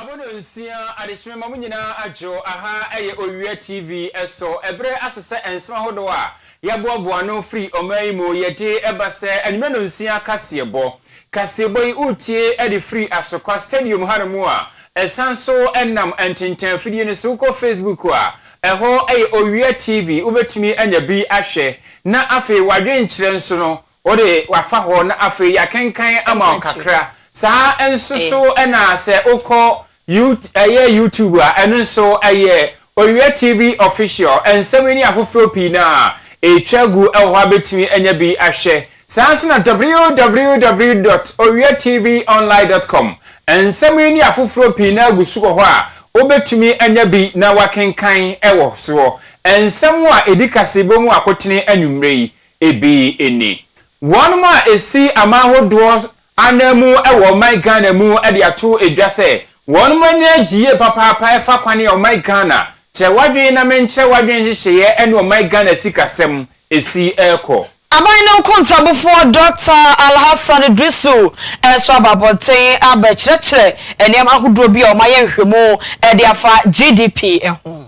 abono nsia adekyerɛ ma mo nyinaa adwo aha ɛyɛ owia tv ɛso ɛberɛ aso sɛ nsɛm ahodoɔ a yɛaboaboa ano firi ɔman yi mu yɛde ɛba sɛ anwummerɛ no nsia kaseɛbɔ kaseɛbɔ yi wotie ɛde firi asokwa stadium hanom a ɛsan so ɛnam ntentan afidie no so wokɔ facebook a Ɛhɔ yɛ Owia TV, wobɛtumi anya bi ahwɛ na afei w'adwenkyerɛ nso no wode wafa hɔ na afei yɛakenkan ama wo kakra. Saa nso so na sɛ wokɔ ɛyɛ YouTube a, ɛno nso ɛyɛ Owia TV Official. Nsɛm yi ne afoforɔ pii no a ɛtwa gu wɔ hɔ a bɛtumi anya bi ahwɛ. Saa ara nso na www dot owiatvonline dot com nsɛm yi ne afoforɔ pii no ara gu so wɔ hɔ a wobɛtumi anya bi na woakenkan wɔ soɔ. Nsɛm a ɛdi kaseɛbɔ mu akotene anwummerɛ yi bi ni, Wɔnom a ɛsi aman hodoɔ Ananmu wɔ ɔman Ghana mu de ato dwa sɛ wɔn ani agye yie papaapa ɛfa kwane a ɔman Ghana kyerɛ w'adwene na menkyerɛ w'adwene nhyehyɛeɛ ɛne ɔman Ghana sikasɛm ɛsi rekɔ. Aban no nkontabufoɔ Dɔkta Alhassan Idrisu nso aba abɔnten abɛkyerɛkyerɛ nneɛma ahodoɔ bi a wɔayɛ nhwehwɛmu de afa GDP ho.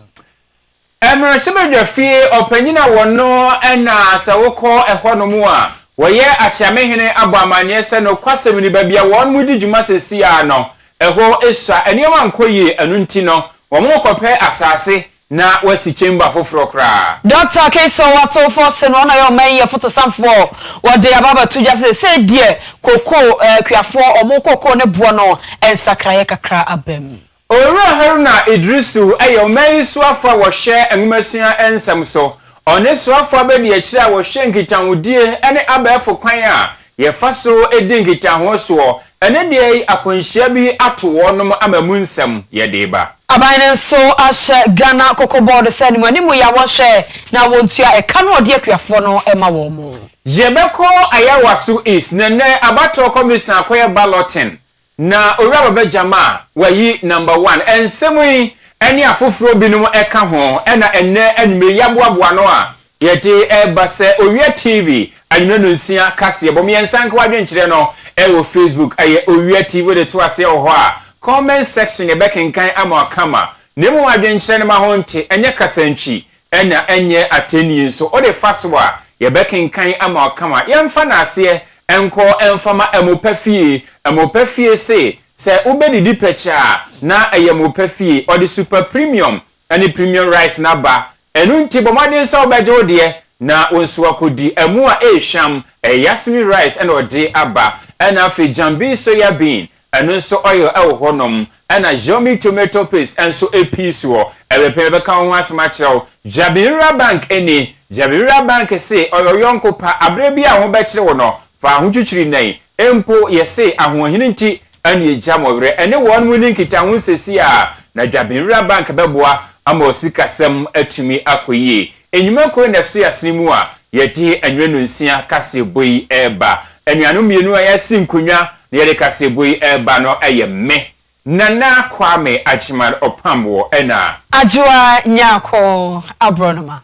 Mmarahyɛbadwafie ɔpanyin a wɔno na sɛ wokɔ ɛhɔnom a wɔyɛ Akyeamehene abɔ amanneɛ sɛ nokwasɛm ni baabi a wɔnom redi dwuma seesei ara no ɛhɔ sua, nneɛma nkɔ yie ɛno nti no wɔnom rekɔpɛ asaase na wɔasi chamber foforɔ koraa. Dɔkta Kayson Watofo se no ɔno ɔyɛ ɔman yi afotosamfoɔ, wɔde aba abɛto dwa sɛ seesei deɛ kokoo kuafoɔ wɔn kokoo ne boɔ no nsakraeɛ kakra abam. Owura Haruna Iddrisu yɛ ɔman yi soafo a wɔhwɛ nwomasua nsɛm so. Ɔne soafo abadiakyiri a wɔhwɛ nkitahodie ne abɛɛfo kwan a yɛfa so di nkitaho soɔ. Ɛnnɛ da yi akwanhyia bi ato wɔnom ama mu nsɛm yɛde reba. Aban no nso ahyɛ Ghana Cocoa Board sɛ ne mu anim yɛ a wɔnhwɛ na wɔntua ɛka no a ɔde akuafoɔ no ma wɔn. Yɛbɛkɔ Ayawaso East na nnɛ abatoɔ kɔmisa akɔyɛ balloting Na Owura Baba Gyama a wayi Number One, nsɛm yi ne afoforɔ binom ka ho na ɛnnɛ anwummerɛ yi yɛaboaboa ano a yɛde reba sɛ Owia TV anwummerɛ nonsia kaseɛbɔ mu. Yɛn nsankawa adwenkyerɛ no wɔ Facebook, ɛyɛ Owia TV. Wode to aseɛ wɔ hɔ a, comment section yɛbɛkenkan ama wo kama. Na mmom adwenkyerɛ no ma ho nte, ɛnyɛ kasantwi. Ɛna ɛnyɛ atɛnnie nso wode fa so a, yɛbɛkenkan ama wakama. Yɛmfa no aseɛ nkɔ mfa ma Amopa fie. Amopa fie se, sɛ wobɛdidi pɛkyɛ a, na ɛyɛ Amopa fie. Ɔde Super Premium ne Premium Rice no aba. Ɛno nti, bɔ mmɔden sɛ wobɛgye wo deɛ na wo nso akɔdi. Ɛmo a ɛrehwam, ɛyɛ Yasmin Rice na ɔde aba. Ɛna afei Jambi Soya Bean Ɛno nso oil ɛwɔ hɔ nom. Ɛna Yomi tomato paste nso epii so hɔ. Ɛbɛpɛ yɛbɛka wo ho asem akyerɛ wo. Jabirira bank ɛni. Jabirira bank se ɔyɛ wo yɔnko pa. Aberɛ biaa ho bɛkyere wo no, fa ho twitwiri nɛn. Mpo yɛse ahoɔhene nti ɛne egya mo werɛ. Ɛne wɔn mo ni nkitaho sesi aa. Na Jabirira bank bɛboa ama wo sikasɛm atumi akɔ yie. Nnwuma koro na ɛso yɛasene mu a yɛde anwunanu nsia kaseɛbɔ yi reba. Anuanom mmienu a yɛasi nkonnwa na yɛde kaseɛbɔ yi reba no yɛ me, Nana Kwame Agyemang Ɔpamboɔ ɛna. Adwoa Nyarko Aborɔnoma.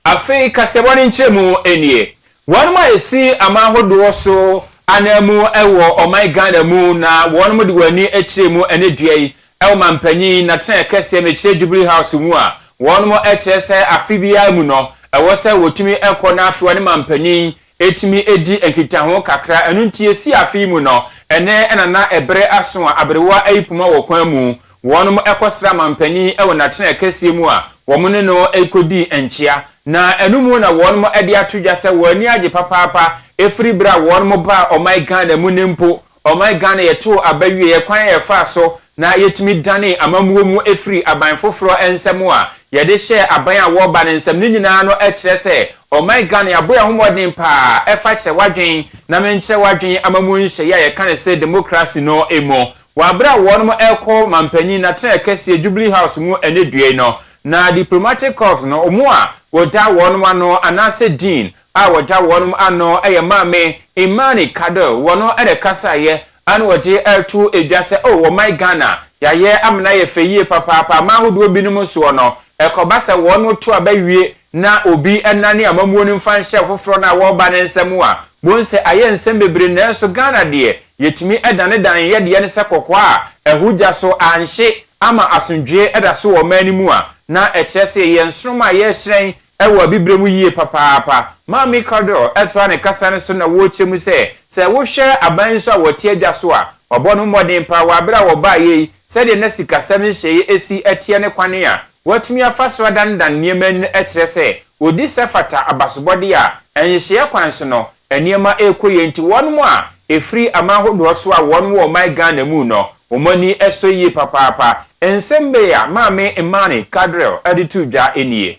Afei kaseɛbɔ no nkyerɛmu nie, Wɔnom a yɛsi aman hodoɔ so ananmu wɔ ɔman Ghana mu na wɔnom de wɔn ani kyerɛ mu ɛnɛ dua yi wɔ manpanyin natenaɛ kɛseɛ no kyerɛ Jubilee House mu a wɔnom kyerɛ sɛ afe biara mu no ɛwɔ sɛ wɔtumi kɔ na afei wɔne manpanyin tumi di nkitaho kakra ɛno nti yɛsi afe yi mu no ɛnɛ ɛna na ɛbere aso a aberewa ayi poma wɔ kwan mu Wɔnom kɔsraa manpanin wɔ n'atenaɛ kɛseɛ mu a wɔn ne no kɔdii nkyea, na ɛno mu na wɔnom de ato dwa sɛ wɔn ani agye papaapa firi berɛ a wɔnom baa ɔman Ghana mu no mpo. Ɔman Ghana yɛtoo aba wieɛ, kwan a yɛfaa so na yɛtumi danee amammuo mu firii aban foforɔ nsam a yɛde hyɛɛ aban a wɔreba no nsam no nyinaa no kyerɛ sɛ ɔman Ghana yɛabɔ yɛn ho mmɔden pa ara ɛfa kyerɛwadwen na menkyerɛwadwen amammuo nhyehyɛeɛ a yɛka no sɛ demokrase no mu. Wɔ bere a wɔnom rekɔ mampanyin n'atenae kɛseɛ Jubilee House mu ɛnnɛ dua yi no, na Diplomatic Corps no wɔn a wɔda wɔnom ano anaasɛ Dean a wɔda wɔnom ano yɛ Maame Imani Kado wɔn na ɛkasaeɛ ɛna wɔde reto dwa sɛ oh ɔman Ghana yɛayɛ amena yɛ fɛ yie papaapa aman ahodoɔ binom soɔ no ɛkɔba sɛ wɔnom to aba wie na obi nnane amammuo no mfa nhyɛ foforɔ no a wɔreba no nsa mu a, bohu sɛ ayɛ nsɛm bebree nanso Ghana deɛ yɛtumi danedane yɛ deɛ no sɛ kɔkɔɔ a ahu gya so anhye ama asomdwoeɛ da so wɔ ɔman no mu a, na ɛkyerɛ sɛ yɛyɛ nsoromma a yɛrehyerɛn wɔ abibire mu yie papaapa. Maame Kwadwo toa ne kasa no so na wɔrekyerɛ mu sɛ, sɛ wohwɛ aban yi nso a wɔte adwa so a, wɔabɔ no mmɔden paa wɔ aberɛ a wɔbaeɛ yi, sɛdeɛ na sikasɛm nhyehyɛeɛ si teɛ ne kwane a Wɔatumi afa so adanedane nneɛma nnɛ akyerɛ sɛ wɔdi sɛ fata abasobɔde a nhyehyeɛ kwan so no nneɛma rekɔ yie nti wɔnom a ɛfiri aman hodoɔ so a wɔnom wɔ ɔman Ghana mu no wɔn ani sɔ yie papaapa. Nsɛm bei a Maame Imani Kadril de too dwa nie.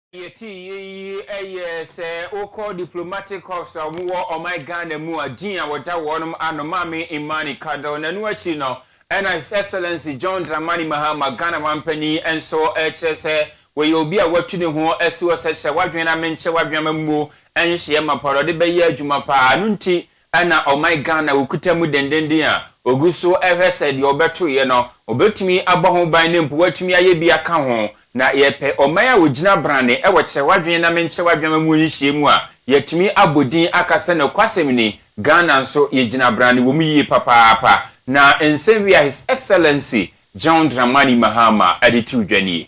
Yɛte eyi yɛ sɛ wokɔ diplomatic corps a wɔn wɔ ɔman Ghana mu a din a wɔda wɔnom ano Maame Imani Kado na ɛno akyiri no ɛna His Excellency John Dramani Mahama Ghana Mampanin nso rekyerɛ sɛ wɔyɛ obi a watu ne ho asi hɔ sɛ kyerɛ w'adwene na menkyɛ w'adwene ama mmuo nhyehyɛeɛ mapa na ɔde bɛyɛ adwuma paa ɛno nti Ɛna ɔman Ghana ɔkuta mu dendenden a ɔgu so rehwɛ sɛ deɛ ɔbɛtoeɛ no ɔbɛtumi abɔ ho ban na mpo watumi ayɛ bi aka ho. Na yɛpɛ ɔman a ɔgyina brane wɔ kyerɛ w'adwene na menkyerɛ w'adwene mu nhyiamu a yɛatumi abɔ din aka sɛ nokwasɛm ni Ghana nso yɛgyina brane wɔ mu yie papaapa. Na nsɛm wei a His Excellency John Dramani Mahama de too dwa nie.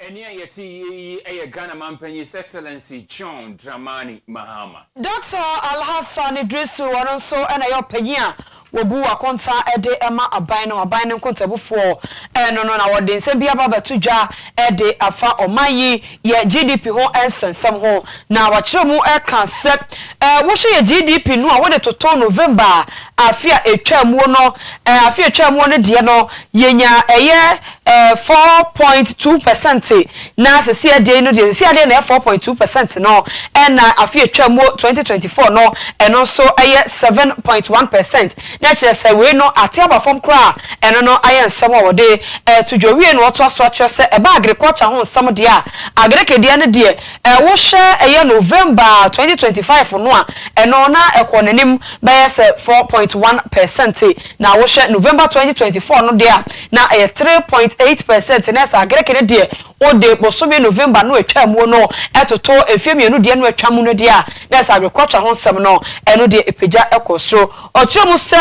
Ɛnne a yɛte yie yi yɛ Ghana Mampanyin His Excellency John Dramani Mahama. Dɔkta Alhassan Iddrisu, ɔno nso na ɛyɛ ɔpanyin a wɔbu akonta de ma aban no, aban no nkontabufoɔ no no na wɔde nsɛm bi aba abɛto dwa de afa ɔman yi yɛ GDP ho nsɛnsɛm ho na wakyerɛ mu ka sɛ wohwɛ yɛ GDP no a wode toto November afe a ɛtwaa muo no, afe a ɛtwaa muo no deɛ no yɛnya ɛyɛ Ɛɛ, four point two percent na sisi adeɛ no deɛ sisi adeɛ na ɛyɛ four point two percent no ɛna afe atwa mu twenty twenty four no ɛno nso ɛyɛ seven point one percent na ɛkyerɛ sɛ wei no ate aba fam koraa ɛno no ayɛ nsɛm a wɔde ɛto dwa wie na wɔtoa so akyerɛ sɛ ɛba agriculture ho nsɛm deɛ a agreke deɛ no deɛ ɛwohyɛ ɛyɛ november twenty twenty five no a ɛno na ɛkɔ n'anim bɛyɛ sɛ four point one percent na wohyɛ november twenty twenty four no deɛ a na ɛyɛ three point eight percent na ɛsɛ Agreke no deɛ wode bosome November no a ɛtwaa muo no toto mfeɛ mmienu deɛ no a ɛtwa mu no deɛ a, na ɛsɛ awekwatwa ho nsɛm no, ɛno deɛ ɛpagya kɔ soro. Ɔkyerɛ mu sɛ,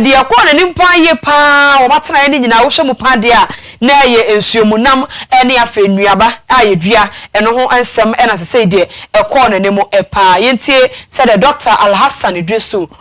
Deɛ ɛkɔɔ n'anim pa ara yie pa ara wɔ m'atenaeɛ no nyinaa, wohwɛ mu pa ara deɛ a, na ɛyɛ nsuomunam ne afei nnuaba a yɛdua, ɛno ho nsɛm na sesei deɛ ɛkɔɔ n'anim pa ara. Yɛntie sɛdeɛ Dɔkta Alhassan Idrisu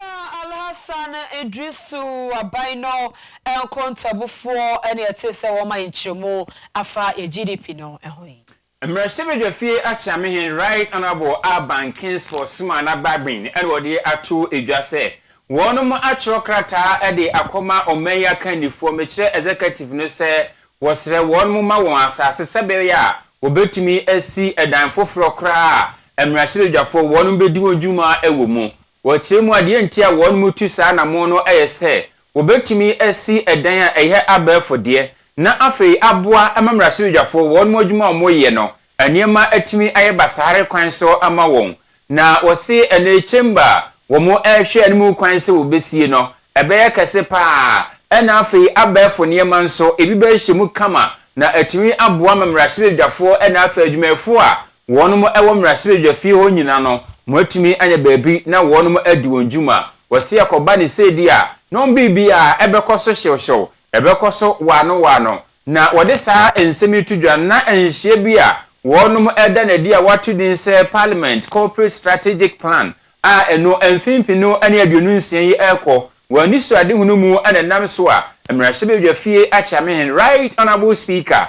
Na Alhassan Idrisu aban no nkontabufoɔ ne ɛtee sɛ wɔma nkyerɛmu afa yɛ GDP no ho yi. Mmarahyɛbadwafie Akyeamehene Right Honourable Alban Kingsford Sumaana Bagbin na wɔde ato dwa sɛ wɔnom atwerɛ krataa de akɔma ɔman yi akannifoɔ mekyerɛ Executive no sɛ wɔsrɛ wɔnom ma wɔn asaase sɛbɛyɛ a wɔbɛtumi asi dan foforɔ koraa a mmarahyɛbadwafoɔ wɔnom bɛdi wɔn dwuma wɔ mu Wɔ kyerɛ mu a, deɛ nti a wɔnom tu saa anammɔn no yɛ sɛ wɔbɛtumi asi ɛdan a ɛyɛ abɛɛfo deɛ, na afei aboa ma mmarahyɛbadwafoɔ wɔnom adwuma a wɔyɛ no nneɛma atumi ayɛ basaare kwan so ama wɔn. Na wɔse ɛno yi chamber a wɔrehwɛ anim kwan sɛ wɔbɛsie no ɛbɛyɛ kɛse pa ara, ɛna afei abɛɛfo nneɛma nso ebi bɛhyɛ mu kama na atumi aboa ma mmarahyɛbadwafoɔ ɛna afei adwumayɛfoɔ a Wɔnom ɛwɔ mmrahyɛbadwa fie hɔ nyina no moatumi anya baabi na wɔnom adi wɔn dwuma. Wɔse ɛkɔba ne sɛɛdi a na wɔn biribiaa ɛbɛkɔ so hyewhyew, ɛbɛkɔ so waano waano. Na wɔde saa nsɛm yi to dwa na nhyeɛ bi a wɔnom ɛda no adi a wɔato din sɛ Parliament Corporate Strategic Plan a ɛno mfinfino ne aduonu nsia yi ɛrekɔ wɔ anisoadehunu mu na ɛnam so a mmrahyɛbadwa fie akyɛamehen Right Honourable Speaker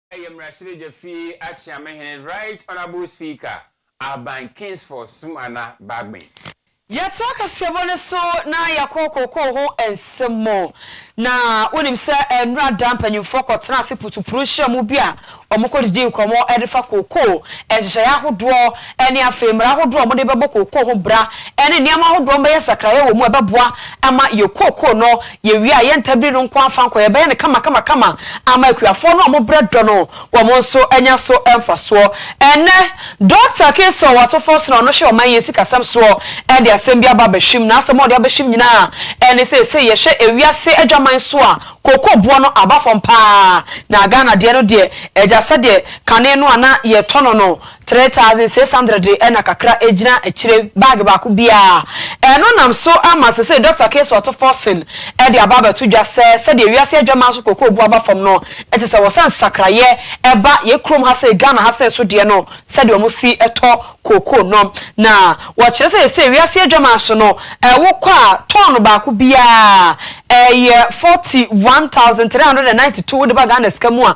Yɛ mmarahyɛbadwa fie akyea me hene Right Honourable Speaker Aban Kingsford Sumana Bagbin. Yɛtoa kaseɛbɔ no so na yɛkɔ kookoo ho nsɛm mu. Na wonim sɛ nnora da mpanyimfoɔ kɔtenaa ase putupuruw nhyiamu bi a wɔkɔdidii nkɔmmɔ de fa kookoo nhyehyɛeɛ ahodoɔ ɛne afei mmara ahodoɔ a wɔde bɛbɔ kookoo ho bra ne nneɛma ahodoɔ a wɔbɛyɛ sakraeɛ wɔ mu a ɛbɛboa ma yɛn kookoo no, yɛn wia a ɛyɛ ntabiri no nko ara fa nkɔ, yɛbɛyɛ no kamakamakama ama akuafoɔ no a wɔbrɛ dɔ no, wɔn nso anya so mfasoɔ. Ɛnnɛ, Dɔkta Kingston Watson-Forson a ɔno hwɛ ɔman yɛn sikasɛm soɔ de asɛm bi aba abɛhwim. N'asɛm a ɔde abɛhwim nyinaa ne sɛ seesei yɛhwɛ ewiase adwaman so a, kookoo boɔ no aba fam pa ara, na Ghana deɛ no deɛ, agya sɛdeɛ kane no a na yɛtɔ no no, Three thousand six hundred na kakra egyina akyire bag baako biara. Ɛno nam so ama seesei Dɔkta Case Watson-Forson de aba abɛto dwa sɛ sɛdeɛ wiase adwaman so koko bu aba fam no, kyerɛ sɛ wɔsɛ nsakraeɛ ɛba yɛn kurom ha sei, Ghana ha sei nso deɛ no sɛdeɛ wɔsi tɔ koko no. Na wɔkyerɛ sɛ seesei wiase adwaman so no wokɔ a tɔɔno baako biara ɛyɛ forty one thousand three hundred and ninety two wode ba Ghana sika mu a,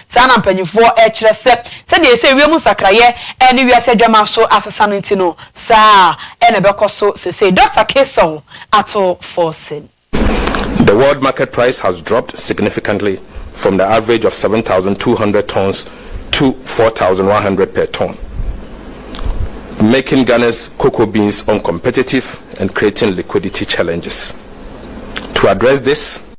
Saa na mpanyimfoɔ kyerɛ sɛ, sɛdeɛ ɛsɛ wiem nsakraeɛ ne wiase adwaman so asesa no nti no, saa ara na ɛbɛkɔ so seesei, Dɔkta Kaysel ato fɔsen. The world market price has dropped significantly from the average of seven thousand two hundred tonnes to four thousand one hundred per tonne, making Ghana's cocoa beans uncompetitive and creating liquidity challenges. To address this,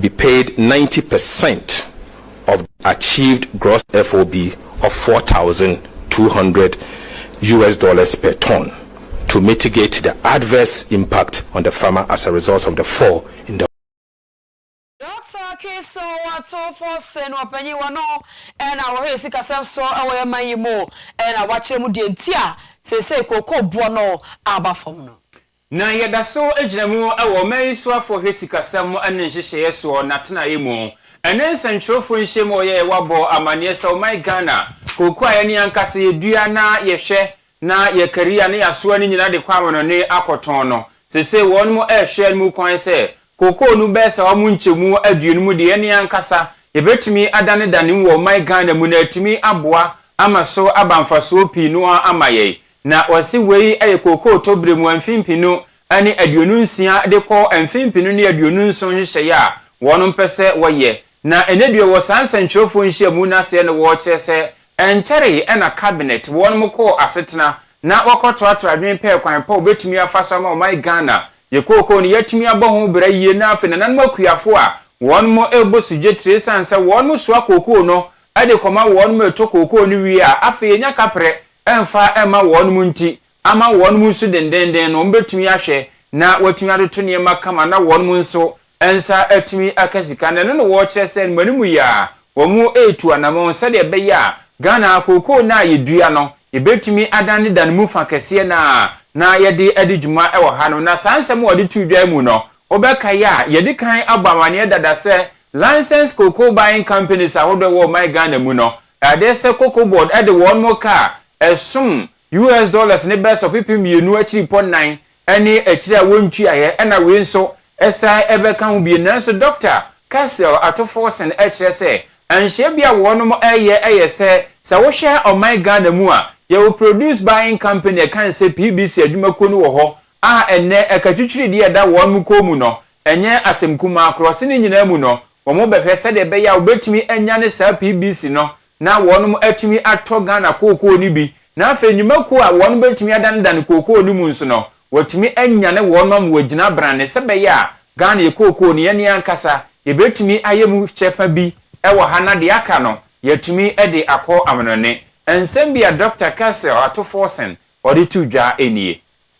be paid ninety percent of the achieved gross FOB of four thousand two hundred US dollars per tonne to mitigate the adverse impact on the farmer as a result of the fall in the Dɔkta Kison Watofo sen ɔpanyin wɔ no na wɔhwɛ sikasɛm so wɔ yɛn man yi mu na wakyerɛ mu deɛ nti a seesei kookoo boɔ no aba fam no. Na yɛda so gyina mu wɔ ɔman yi soafo hwɛ sikasɛm ne nhyehyɛeɛ soɔ n'atenaeɛ mu. Ɛnnɛ nsɛntwerɛfoɔ nhyiam a wɔyɛeɛ wɔabɔ amanneɛ sɛ ɔman Ghana, kooko a yɛne ankasa yɛdua na yɛhwɛ na yɛkari a na yɛasoa no nyinaa de kɔ amanɔne akɔtɔn no, seesei wɔnom rehwɛ anom kwan sɛ kookoo no bɛsa wɔn nkyɛmu aduonu mu deɛ yɛne ankasa yɛbɛtumi adanedane mu wɔ ɔman Ghana mu na yɛatumi aboa ama so aba mfasoɔ pii no ara ama yɛn. Na wɔse wei yɛ kookoo tɔberɛ mu mfe mpenu ne aduonu nsia de kɔ mfe mpenu ne aduonu nson nhyehyɛeɛ a wɔnom pɛ sɛ wɔyɛ. Na ɛnnɛ deɛ wɔ saa nsɛntwerɛfoɔ nhyiamu no aseɛ no wɔkyerɛ sɛ ɛnkyɛree na cabinet wɔnom kɔɔ asetena na wɔkɔtratra adwene pɛɛ kwan pa wɔbɛtumi afa so ama ɔman Ghana yɛ kookoo no yɛatumi abɔ ho bra yie na afei nananom akuafoɔ a wɔnom rebɔ sugye tire ɛsiane sɛ wɔnom soa kookoo no de kɔma wɔnom retɔ kookoo no wie a afei yɛnya kaprɛ ɛmfa mma wɔnom nti, ama wɔnom nso dendennden no wɔbɛtumi ahwɛ na wɔatumi atoto nneɛma kama na wɔnom nso nsa atumi aka sika no, ɛno na wɔkyerɛ sɛ mmanimu yi ara wɔretu anamɔn sɛdeɛ ɛbɛyɛ a Ghana ha kookoo no a yɛdua no yɛbɛtumi adane da no mu fa kɛseɛ no ara na yɛde adi dwuma wɔ hanom. Na saa nsɛm a wɔde too dwa yi mu no, wobɛkae a, yɛadi kan abɔ amanneɛ dada sɛ Licensed Cocoa Buying Companies ahodoɔ a ɛwɔ ɔman Ghana mu no, Ɛde sɛ Cocoa Board de wɔn ka a ɛsom US dollars ne bɛs ɔpepem mmienu akyiripɔ nnan ne akyire a wɔntuaeɛ ɛna wei nso san bɛka ho bio. Nanso Dɔkta Cassel Atuforsen kyerɛ sɛ nhyɛ bi a wɔn reyɛ yɛ sɛ, sɛ wohwɛ ɔman Ghana mu a, yɛwɔ Produce Buying Company a ɛka ne sɛ PBC adwumakuo no wɔ hɔ a ɛnnɛ ɛka twitwiridie a ɛda wɔn kɔn mu no Ɛnyɛ asɛm kumaa korɔ se ne nyinaa mu no wɔn bɛhwɛ sɛdeɛ ɛbɛyɛ a wɔbɛtumi anyane saa PBC no na wɔnom atumi atɔ Ghana kookoo no bi na afei nnwumakuo a wɔnom bɛtumi adanedane kookoo no mu nso no wɔatumi anyane wɔnom wɔ gyina brane sɛ bɛyɛ a Ghana yɛ kookoo no yɛne ankasa yɛbɛtumi ayɛ mu kyɛfa bi wɔ ha na deɛ aka no yɛatumi de akɔ amanɔne. Nsɛm bi a Dɔkta Kelsey Ɔatofoɔsen ɔde to dwa nie.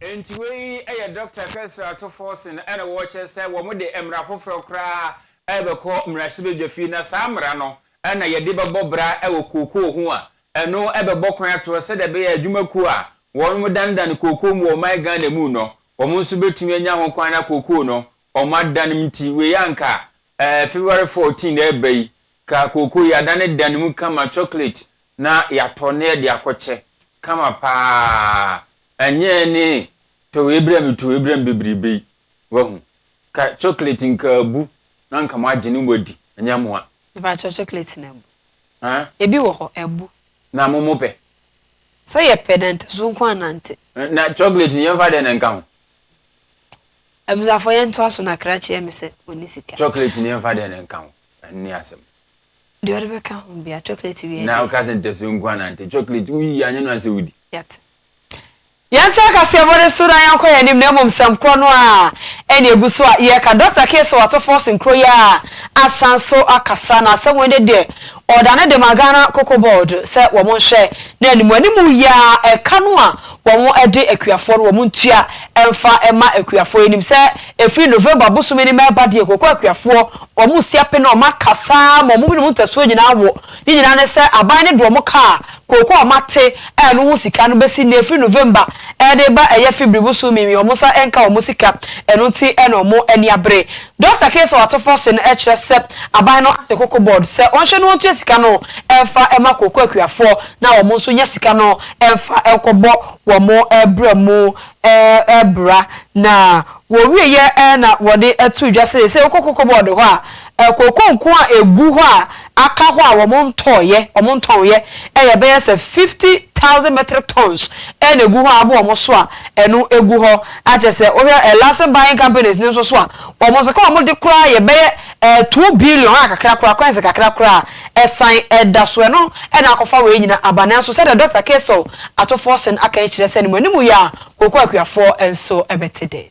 Enti wei yɛ Dɔkta Kessler atofo se no na wɔrekyerɛ sɛ wɔde mmara foforɔ koraa rebɛkɔ mmarahyɛbadwafie na saa mmara no na yɛde bɛbɔ bra wɔ kookoo ho a ɛno bɛbɔ kwan atoɔ sɛdeɛ ɛbɛyɛ a adwumakuo a wɔdanedane kookoo mu wɔ ɔman Ghana mu no wɔn nso bɛtumi anya ho kwan na kookoo no wɔn adan nti wei anka Ɛɛ, February fourteen na ɛreba yi, ka kooko yi adane da ne mu kama chocolate na yɛatɔ na yɛde akɔkyɛ, kama pa ara, ɛnyɛ ne tɔ wei brɛ me, tɔ wei brɛ me bebrebe yi, wahu. Ka chocolate nka abu na nka moagye ne moadi, ɛnyɛ mo a. Mepakyɛw, chocolate no abu? Haa? Ebi wɔ hɔ, abu. Na mo mopɛ? Sɛ yɛpɛ, na ntasu nko ara nante. Na chocolate no yɛmfa dɛn na ɛnka ho? Abusuafo yɛn ntoa so na kra kyeɛ me sɛ ɔnni sika. Chocolate ni ɛmfa deɛ no nka ho ɛno ni asɛm. Deɛ ɔde bɛka ho bia chocolate wie deɛ. Na woka sɛ ntasuo nko ara na nti chocolate woyi anyɛ no asɛ wodi. Yɛate. Yɛnte akaseɛbɔ no so na yɛnkɔ yɛn anim na mmom sɛm korɔ no ara ɛna ɛgu so a yɛka. Dɔkta Kay sɛ wɔato Falls nkuro yi ara asan so akasa na asɛm wei ne deɛ Ɔda no de ma Ghana Cocoa Board sɛ wɔn nhwɛ na animuanimu yɛ a ɛka no a wɔn de akuafoɔ no wɔn ntua mfa mma akuafoɔ yɛnim sɛ ɛfiri November bosome no mu ɛreba deɛ koko akuafoɔ wɔn sia pene wɔn aka saa ma wɔn binom ntasuo nyinaa wo ne nyinaa ne sɛ aban no de wɔn kaa koko a wɔn ate ɛno ho sika no bɛsi nea ɛfiri November ɛde ba ɛyɛ Fibri bosome mi wɔn nsa ɛnka wɔn sika ɛno nti ɛna wɔn ani abere Dɔkta Kay sɛ wɔato fɔse no kyerɛ sɛ aban no asɛ Cocoa Board sɛ wɔnhyɛ no ntua sika no mfa mma kooko akuafoɔ na wɔn nso nya sika no mfa nkɔbɔ wɔn bra mu bra. Na wɔwieɛ na wɔde too dwa sɛ seisei wokɔ Cocoa Board hɔ a, kooko nko a ɛgu hɔ a, aka hɔ a wɔntɔeɛ, wɔntɔnnyɛ, yɛ bɛyɛ sɛ fifty thousand metric tons na ɛgu hɔ a abɔ wɔn so a ɛno gu hɔ. Na kyerɛ sɛ wohwɛ eh, Larsen Buying Companies no nso so a, wɔn nso ka wɔn de koraa yɛ bɛyɛ eh, two billion a kakra koraa, coins kakra koraa a ɛsan ɛda so. Ɛno na akɔfa wei nyina aba. Nanso sɛdeɛ Dɔkta Kaysel Atoforsen aka yi kyerɛ sɛ ne mu anim yɛ a, kooko akuafoɔ nso bɛte dɛn?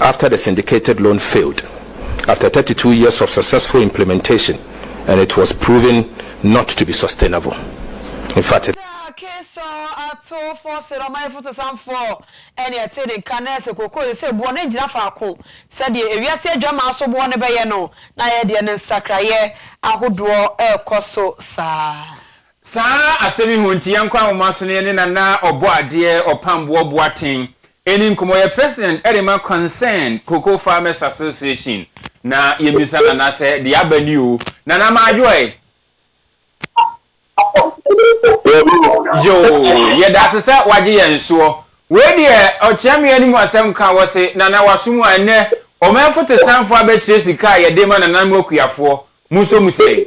after the syndicated loan failed after thirty two years of successful implementation and it was proven not to be sustainable in fact it Sɛ akesaw atowfo sɛ ɔman afutusamfo ne ɛte ne nka na ɛsɛ kookoo sɛ boɔ no gyina faako sɛdeɛ ewiase adwammaa so boɔ no bɛyɛ no na ɛyɛ deɛ no nsakraeɛ ahodoɔ rekɔ so saa. Saa asɛm yi ho nti, yɛnkɔ anwoma so na yɛne Nana Ɔbɔadeɛ Ɔpamboɔ Boateng ɛni nkɔmmɔ. Ɔyɛ President ɛde ma Concerned Cocoa Farmers Association na yɛmmisa Nana sɛ deɛ aba ni o. Nana Madwo ɛ? Yoo, yɛdase sɛ wagye yɛn soɔ. Wei deɛ ɔkyeamea no mu asɛm ka wɔ se Nana waso mu a ɛnnɛ ɔmanfotosanfoɔ abɛkyerɛ sika a yɛde ma nananom akuafoɔ. Mo nso mo sɛn?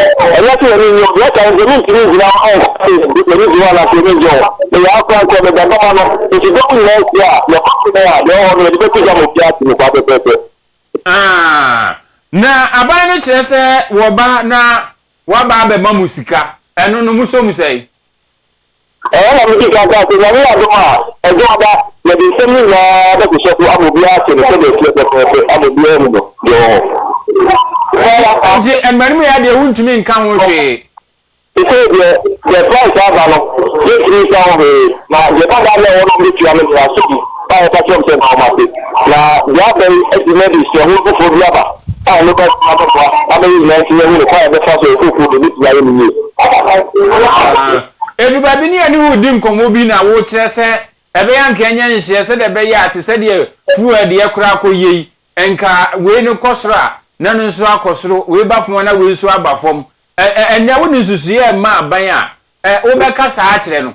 Ɛnyɛ sɛ yɛn ani nnye ho. Yɛka no sɛ, Merentumi ngyina hɔ nka sɛ yɛn ani gye ho anaa sɛ yɛn ani nnye ho. Meyɛ ankorankoro, meda adwuma ano. Enti dɔm nyinaa nhyia a, yɛkɔ so wɛn a, deɛ ɛwɔ hɔ no, yɛde bɛto gya ma obiara ate mu saa pɛpɛɛpɛ. Aah, na aban no kyerɛ sɛ wɔba na wɔaba abɛma mo sika, ɛno no mosɔ mu sɛn? Ɛhɔ na mede kan kaa sɛ, Nyame yɛ adom a, ɛdɔ aba, yɛde nsɛm no nyinaa bɛhyehyɛ so ama obiara ahyɛ no sɛdeɛ ɛteɛ pɛpɛɛpɛ ama obiara ahu no deɛ ɔwɔ hɔ. Enti mmarimyea deɛ wontumi nka ho hwee. Seesei deɛ, deɛ Christ aba no, yɛntumi nka ho hwee, na deɛ ɛba daa no a ɛwɔ no a wɔbɛtua no deɛ, asodi. a wɔka kyerɛ wɔn sɛ mma wɔn ase. Na deɛ aka yi akyi no de suahunu foforɔ bi aba a ɛno koraa bɛtumi abɛboa ama yɛn nyinaa nso yɛahu ne kwan a yɛbɛfa so a ɛfoforo deɛ ɛbɛtumi ayɛ no yie. Edu baabi ne yɛne wo redi nkɔmmɔ bi na wokyerɛ sɛ ɛbɛyɛ anka yɛnyɛ nhyehyɛe sɛdeɛ ɛbɛyɛ a te sɛ deɛ fuel deɛ koraa akɔyɛ yi, nka wei no kɔ soro a, na ɛno nso akɔ soro, wei ba fam a, na wei nso aba fam. Ɛ ɛ ɛnnɛ wode nsusuiɛ rema aban a, ɛ wobɛka saa akyerɛ no?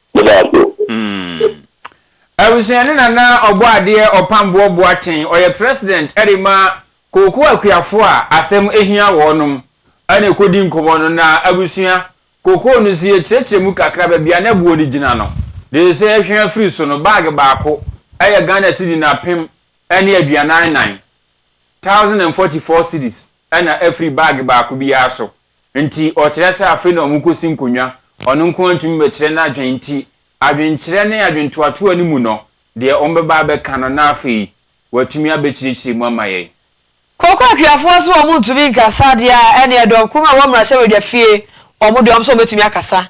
Yɛda ase o. Abusua ne Nana Ɔbɔadeɛ Ɔpamboɔ Boateng ɔyɛ president de ma Kooku Akuafo a asɛm hia wɔnom na ɛkɔdi nkɔmmɔ no na abusua Kokoo no sie kyerɛkyerɛ mu kakra baabi a na boɔ no gyina no dee sɛ ɛhwɛ afiri so no bag baako yɛ Ghana cedi napem ne aduanan nan, thousand and forty four cedis, na afiri bag baako biara so. Nti ɔkyerɛ sɛ afei na wɔkosi nkonnwa, ɔno nko ara ntumi mmɛkyerɛ n'adwene nti adwenkyerɛ ne adwentoatoa no mu no, deɛ wɔbɛba abɛka no na afei watumi abɛkyirikyiri mu ama yɛn. Koko akuafoɔ se wɔn ntumi nkasa deɛ a ɛneɛ dɔm kumaa wɔ mmarahyɛbadwa fie wɔn deɛ wɔn se wɔbɛtumi akasa.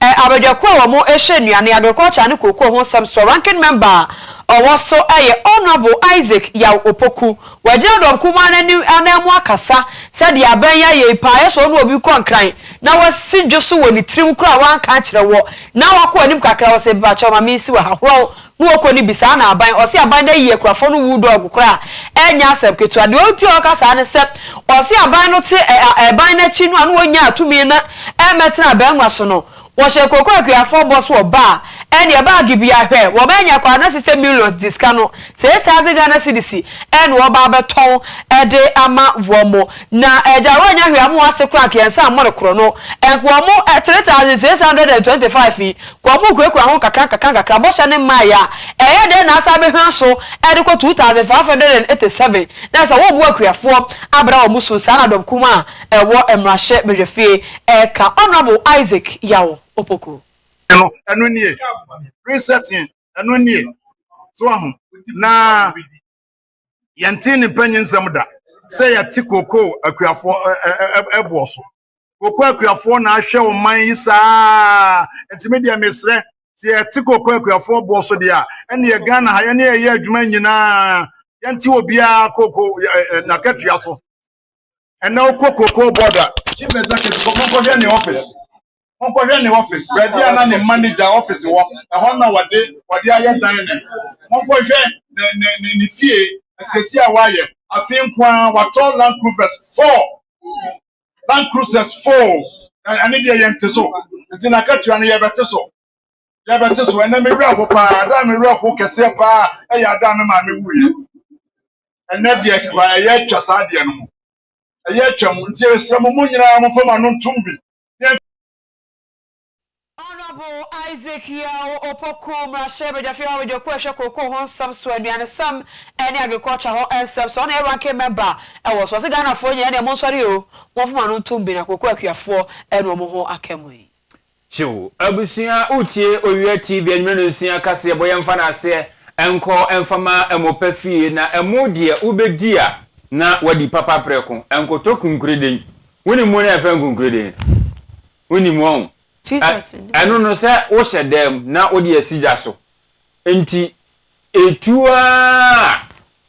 Ɛ abadwakuo a wɔn hyɛ nnuane yɛ agriculture ne kookoo ho nsɛm soɔ ranking member a ɔwɔ so yɛ Honourable Isaac Yaw Opoku. Wagyina dɔm kumaa no anim anan mu akasa sɛ deɛ abɛn yi ayɛ yi paa yɛ sɛ ɔne obi rekɔ nkran na wasi dwo so wɔ ne tirim koraa a wanka ankyerɛ woɔ na wakɔ anim kakra wɔ sɛ mpakyɛw ma mensi wɔ ha horow Nwoko no bisaa no aban, ɔse aban no ayi akurafo no wu dɔɔgo koraa a ɛnyɛ asɛm ketewa. Deɛ ɔnti a ɔka saa ne sɛ ɔse aban no te ɛban no akyi no a na wɔnyaa tumi na ɛmɛtena abangua so no wɔhyɛ Koko Akuafoɔ bɔ so wɔ baa ɛneɛ baa Gibea hwɛ wɔn anya kɔ a na sista millions di sika no six thousand Ghana cedis ɛna wɔba abɛtɔn ɛde ama wɔn na ɛgya wɔanya hwɛ wɔn ase koraa nka yɛn nsa mmɔ no korɔ no nka wɔn three thousand six hundred and twenty five yi Wɔn mu kurakura ho nkakrankakra. Bɔhyɛ no mmaeɛ a, ɛyɛ dɛn na asan bɛhwa so de kɔ 2587? Na sɛ woboa akuafoɔ abra wɔn so, saa na Dɔm Kumaa a ɛwɔ Mmarahyɛ Badwafie reka. Honourable Isaac Yaw Opoku. no, ɛno nie, resetting, ɛno nie, so ahu, na yɛntee ne mpanyinsɛm da sɛ yɛte kookoo akuafoɔ boɔ so. koko akuafoɔ na ahwɛ ɔman yi saa nti me deɛ mesrɛ sɛ yɛte koko akuafoɔ boɔ so deɛ a ɛneɛ ghana ha yɛne ɛyɛ adwuma nyinaa yɛnte obiara koko nakatua so ɛnɛ wokɔ koko bɔda chief executive kɔ monkɔhwɛ ne office monkɔhwɛ ne office baabi a na ne manager office wɔ ɛhɔ na wɔde wɔde ayɛ dan ne monkɔhwɛ ne ne ne ne fie asiesie a wɔayɛ afei nko ara wɔatɔ land cruisers four Bank cruises foo na ɛne deɛ yɛn te so nti na akatua no yɛbɛte so yɛbɛte so ɛnɛ me werɛ ho paa adaa me werɛ ho kɛseɛ paa ɛyɛ adaa me maame wuiɛ ɛnɛ deɛ kaba ɛyɛ atwa saa deɛ no mu ɛyɛ atwa mu nti ɛsrɛ mo mo nyinaa mo fam ano ntom bi Honourable Isaac Yaw Opoku, Mmarahyɛ Badwafi hɔ Abadwakuo a ɛhwɛ Cocoa ho nsɛm so, Aduanesɛm ne Agriculture ho nsɛm so, ɔno na ɛyɛ Ranking Member wɔ so. Ɔse Ghanafoɔ nyinaa ɛneɛ monsɔre oo, momfom ano ntom bi na Cocoa akuafoɔ ɛnu ɔmo ho aka mu yi. Kyew abusua wotie owia TV anwumere no nsia kaseɛ bɔ yɛmfa no aseɛ nkɔ mfa ma mo pɛ fie na mo deɛ wobɛdi a na wadi papa prɛko nkoto kunkureden wonim mu no a yɛfrɛ no kunkureden no? Wonim wɔn. Ɛno no, sɛ wohyɛ dan mu na wode asi gya so nti, ɛtu ara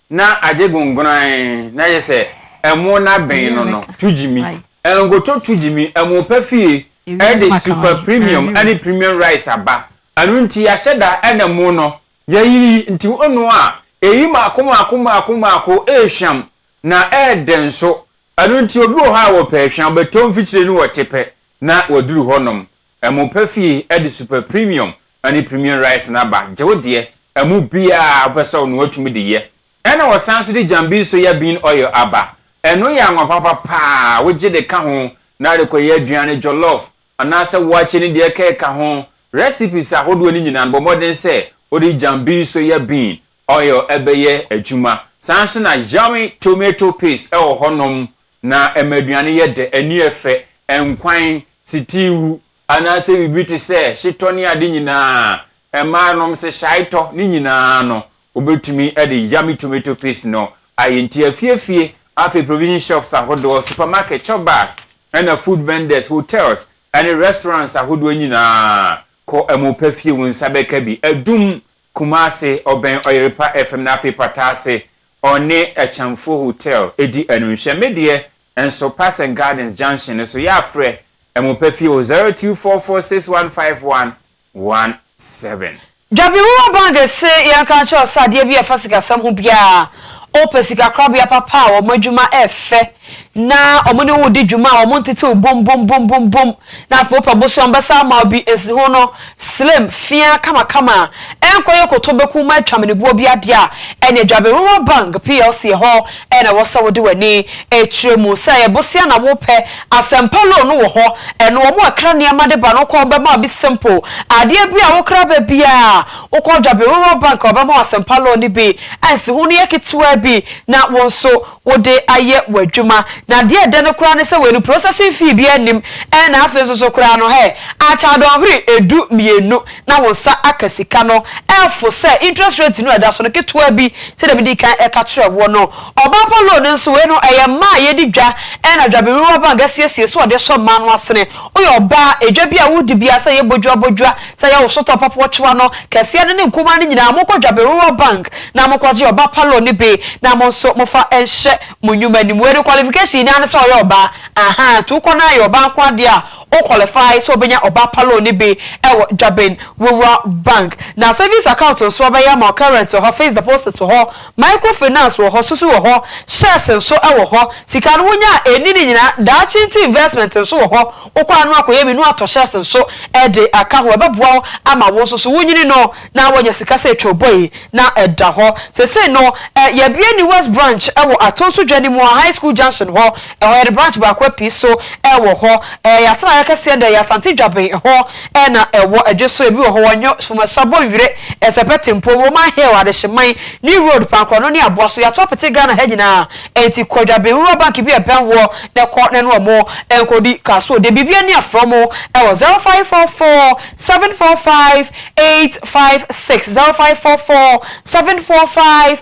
na agye gongonae na ayɛ sɛ ɛmo no abɛn no no. Tugyimi, Nkoto Tugyimi ɛmo pa fie de Super Premium ne Premium Rice aba. Ɛno nti yɛahyɛ da na ɛmo no yɛayiyi nti wonoa a, ɛyi mmaako mmaako mmaako mmaako, ɛyɛ hwam na ɛyɛ den nso. Ɛno nti, obi wɔ hɔ a wɔpɛ ahwa, wɔbɛtɔ mfikyire no wɔ Tepɛ na wɔaduru hɔnom. Ɛmo pa fie, ɛde Super Premium ne Premium Rice no aba. Gye wo deɛ, ɛmo biara a wopɛ sɛ wonoa tumi de yɛ. Ɛna wɔsan nso de Jambin Soya Bean Oil aba. Ɛno yɛ anwapapa pa ara, wogye de ka ho na wode kɔyɛ aduan no jollof anaasɛ waakye ne deɛ ɛkeka ho. Recipes ahodoɔ no nyinaa no, bɔ mmɔden sɛ wode Jambin Soya Bean Oil bɛyɛ adwuma. Saa nso na yummy tomato paste wɔ hɔnom na ɛma aduane yɛ dɛ, ani yɛ fɛ, nkwan, sitiiwu, anaasɛ biribi te sɛ hyetɔ ne ade nyinaa, mmaa nom se hyaetɔ, ne nyinaa no, wobɛtumi de yummy tomato paste no ayɛ. Nti afiefie, afei provision shops ahodoɔ, supermarket, chop bars, ɛna food vendors, hotels, ɛne restaurants ahodoɔ nyinaa, kɔ ɛmo pɛ fie, wo nsa bɛka bi. Adum Kumase, ɔbɛn Ɔyerepa FM na afei pata ase ɔne Akyɛmfo Hotel di ano nhwɛ. Me deɛ nso Parsons Gardens Junction no so yɛ a frɛ ɛmo pɛ fie o 0244611517. Dwabi Wowa Bang se yɛnka nkyerɛ wo sɛ adeɛ bi a ɛfa sikasɛm ho biara a wopɛ sikakorabea papa a wɔn adwuma ɛyɛ fɛ na ɔmo ne wo di dwuma a ɔmo ntetew bum bum bum bum bum na afei wopɛ bosea ɔmo bɛsan ama wo bi nsiho no slim feaa kama kama a ɛnkɔ yɛ koto bɛku ma atwa mene boɔ bi adeɛ a ɛneɛ Dwaberewa Bank plc ɛhɔ na ɛwɔ sɛ wode w'ani ɛtire mu sɛ ɛyɛ bosea na wo pɛ Asɛmpa loan no wɔ hɔ ɛno ɔmo ɛkra nneɛma de ba no wokɔ ɔmo bɛma wo bi simple adeɛ bi a wo kra ba bi a wokɔ Dwaberewa Bank a ɔbɛma wo Asɛmpa loan no bi a nsiho no yɛ ketewa bi na wo nso wode ayɛ w'adwuma na deɛ ɛdɛ no koraa ne sɛ wei no processing fee biara nnim ɛna afei nso so koraa no hɛ akyɛ dɔnhwere ɛdu mmienu na wo nsa aka sika no ɛfo sɛ interest rate no a ɛda so no ketewa bi sɛdeɛ medi kan ɛka kyerɛ woɔ no ɔbaapa loan nso wei no ɛyɛ mmaa a yɛdi dwa ɛna dwaberewa bank asiesie sɛ ɔde sɔ mmaa no asene Woyɛ ɔbaa, edwa bi a woredi biara sɛ ɛyɛ bodwoa bodwoa, sɛ ɛyɛ wo sotɔɔ papa ɔkyewa no, kɛseɛ no ne nkumaa no nyinaa monkɔ dwabere rural bank na monkɔgye ɔbaa pa loan no bi na mo nso mofa nhyɛ mo nnwuma anim. Wei no qualification nyinaa ne sɛ ɔyɛ ɔbaa ahaa nti wokɔ na ayɛ ɔbaa nkoa deɛ a wo qualify sɛ wobɛnya ɔbaa pa loan no bi wɔ dwaben rural bank. Na savings account nso wɔbɛyɛ ama wo current hɔ, fixed deposit hɔ, Microfinance wɔ hɔ, soso wɔ hɔ, shares nso wɔ hɔ. Sika no wonya a ɛnni ne nyinaa, daakye nti investment nso wɔ hɔ. Wokɔ ano akɔyɛ bi na woatɔ shares nso de aka ho. Ɛbɛboa wo ama wo nso so wonyini no na woanya sika sɛ twoobɔi na ɛda hɔ. Seesei no, yɛabue ne West Branch wɔ Atonso Dwa no mu wɔ High School Junction hɔ. Ɛhɔ yɛde branch baako apue so wɔ hɔ. Yɛn atenaeɛ kɛseɛ deɛ ɛyɛ Asante Dwaben hɔ na ɛwɔ, ɛdwe so, ebi wɔ hɔ wɔ Nyo, Somɛsɔ, Bonwire, Ɛsɛpɛ, Tempo, Roman Hill, Adehyeman, New Road, Pankorɔno ne Aboa so. Yɛato apete Ghana ha nyinaa. Enti kɔ Dwaben Rural Bank bi a ɛbɛn woɔ na kɔ na ne wɔn nkɔdi ka. So deɛ biribi ani a frɛ wɔn wɔ zero five four four seven four five eight five six, zero five four four seven four five.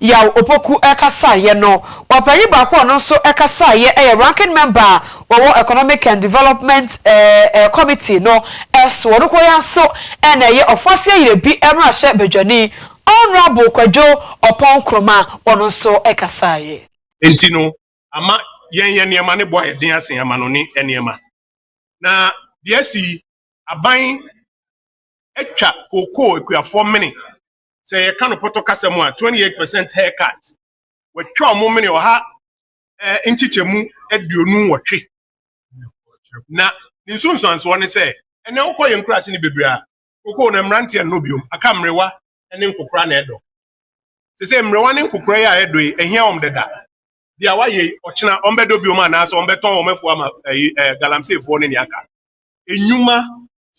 Yaw Opoku kasaeɛ no. Ɔpanyin baako a ɔno nso kasaeɛ yɛ Ranking Member a ɔwɔ Economic and Development Committee no so. Ɔno koraa nso na ɛyɛ Ɔfoase Ayerɛbi mmarahyɛ badwani, Honourable Kwadwo Ɔpɔn Nkrumah, ɔno nso kasaeɛ. Enti no, ama yɛn yɛn nneɛma no bo ayɛ den asen amanɔne nneɛma. Na deɛ asi yi, aban atwa kookoo akuafoɔ mene sɛ yɛka no pɔtɔ kasa mu a 28 percent haircut wɔatwa wɔn mene ɔha nkyekyɛmu aduonu wɔtwe na ne nsunsuansoɔ ne sɛ ɛnɛ wokɔ yɛn nkura ase ne bebree a kokoo na mmeranteɛ nnɔ biom aka mmerewa ne nkokora na ɛdɔ sɛ sɛ mmerewa ne nkokora yi a ɛdɔ yi ɛhia wɔn dada deɛ a wayɛ ɔkyena wɔn bɛdɔ biom anaasɛ wɔn bɛtɔn wɔn afu ama ɛyi ɛɛ galamseefoɔ ne nea aka enyuma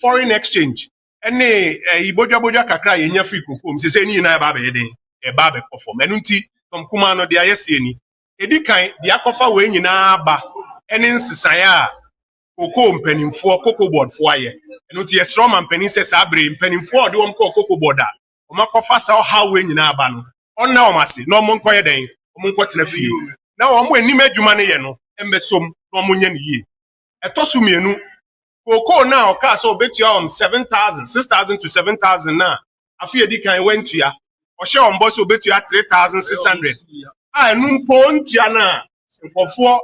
foreign exchange ne ɛyi bodwabodwa kakra a yɛnya firi kokoa mu sesei ne nyinaa ɛba abɛyɛ den ɛba abɛkɔ fam ɛno nti tɔm kumaa no deɛ ayɛ seɛ ni ɛdi kan deɛ akɔfa wei nyinaa aba ɛne nsesaeɛ a kokoo mpanimfoɔ koko bɔɔdfoɔ ayɛ ɛno nti yɛsrɛ ɔma mpanin sɛ saa bere mpanimfoɔ a ɔde wɔn kɔɔ koko bɔɔd a wɔn akɔfa saa ɔhaw wei nyinaa aba no ɔnna wɔn ase na wɔn nkɔyɛ dɛn wɔn nkɔtena fie na wɔn anim adwuma no yɛ no mmɛsom na wɔn nyɛ no yie Ɛtɔ so mmienu, kookoo no a ɔkaa sɛ ɔbɛtua wɔn 7,000, 6,000 to 7,000 no a afe a ɛdi kan wantua, ɔhyɛ wɔn bɔ sɛ ɔbɛtua 3,600 a ɛno mpo ɔntua no a nkurɔfoɔ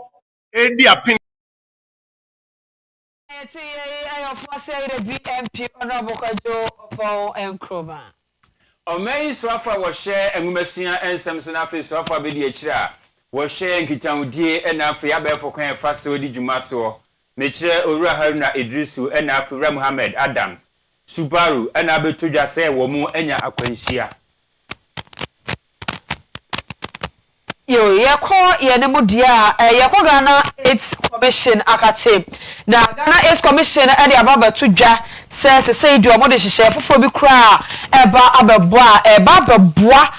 redi apene. Nea yɛte yei yɛ ɔfo asɛyerɛ BMP Honourable Kwadwo Opong Nkrumah. Ɔma yi soafo a wɔhwɛ nwomasua nsɛm so na afei soafo abedi akyiri a wɔhwɛ nkitahodie ɛna afei abɛɛfo kwan a ɛfa so di dwuma soɔ. Mekyerɛ Owura Haruna Iddrisu ɛna afei Owura Mohammed Adams, Subaru, ɛna abɛtɔ dwa sɛ wɔn anya akwanhyia. Yo, yɛkɔ yɛne mo deɛ a, yɛkɔ Ghana AIDS Commission akate. Na Ghana AIDS Commission no de aba abɛto dwa sɛ sesei deɛ wɔde nhyehyɛeɛ foforɔ bi koraa a ɛreba abɛbɔ a ɛreba abɛboa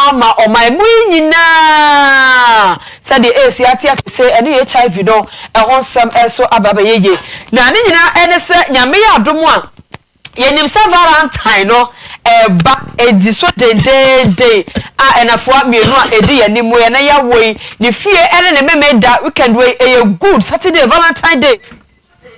ama ɔman mu yi nyinaa sɛdeɛ AIDS ate ate sei ɛne HIV no ɛho nsɛm nso aba abɛyɛ yie. Na ne nyinaa ne sɛ Nyame yɛ adom a, Yɛnim sɛ Valentine no reba, edi so dendeenden a nnafua mmienu a edi yɛn anim yi na yɛawo yi, ne fie ne ne Memeneda weekend wei, ɛyɛ Good Saturday, Valentine Day,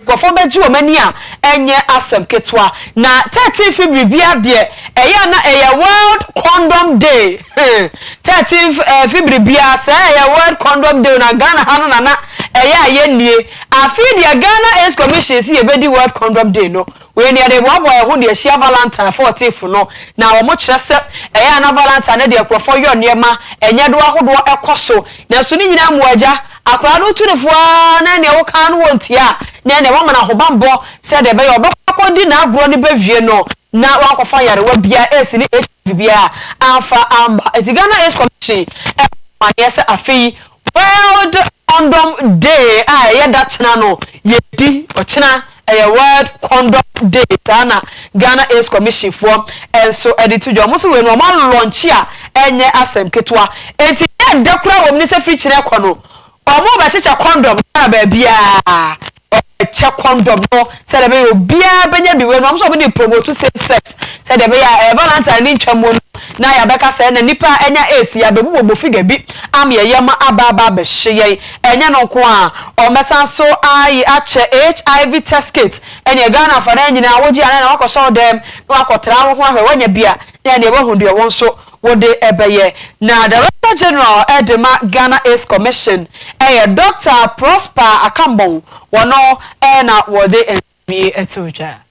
nkurɔfoɔ bɛgye wɔn ani a ɛnyɛ asɛm ketewa. Na 13 fi biribiara deɛ, ɛyɛ a na ɛyɛ World Condom Day, hmm, 13 fi biribiara, sɛ ɛyɛ World Condom Day na Ghana ha no na na ɛyɛ a yɛnnie. Afei deɛ Ghana Aids Commission se yɛbɛdi World Condom Day no, wei no yɛde reboaboa yɛn ho de ahyia Valentine fourteenth no, na wɔkyerɛ sɛ ɛyɛ a na Valentine no deɛ nkurɔfoɔ yɔ nneɛma, ɛnyɛdoɔ ahodoɔ kɔ so. Nanso ne nyinaa mu agya, akwadaa no tu no fo ara na ɛneɛ woka ara no wɔntie a, na ɛneɛ wɔama no ahobammɔ sɛ deɛ ɛbɛyɛ a ɔbɛkɔ akɔdi n'agorɔ no bɛwie no na wankɔfa nyarewa biara, AIDS ne HIV biara, amfa amma. Enti Ghana Aids Commission bɔɔ ho amaneɛ sɛ afei World Condom Day a ɛyɛ da kyena no yɛdi, ɔkyena ɛyɛ World Condom Day, saa na Ghana Aids Commission foɔ nso de to dwa, wɔn nso wei no wɔn alɔnkye a ɛnyɛ asɛm ketewa, enti deɛ ɛda koraa wɔ mu ne sɛ firi kyena rekɔ no wɔn rebɛkyekyɛ condom Ghana baabiara. Wɔkyɛ kɔndɔm no sɛdeɛ ɛbɛyɛ obiara bɛnya bi wɔ mu. Wɔn nso wɔde promote safe sex sɛdeɛ ɛbɛyɛ a ɛɛ Valentine ne ntwa mu no na yɛabɛka sɛ ɛna nnipa a anya AIDS yi abɛbu wɔn figure bi ama yɛyam aba aba abɛhye yɛn. Ɛnyɛ no nko ara, wɔbɛsan nso aye akyɛ HIV test kit. Ɛnneɛ Ghanafoɔ anaa nyinaa wogye anaa na woakɔhyɛ wo dɛm na woakɔtra wo ho ahwɛ woanya bi a na ɛnneɛ woahu deɛ wo nso Wɔde bɛyɛ. Na Director General de ma Ghana Aids Commission yɛ Doctor Prosper Akambong, wɔno na wɔde nsɛm yi too dwa.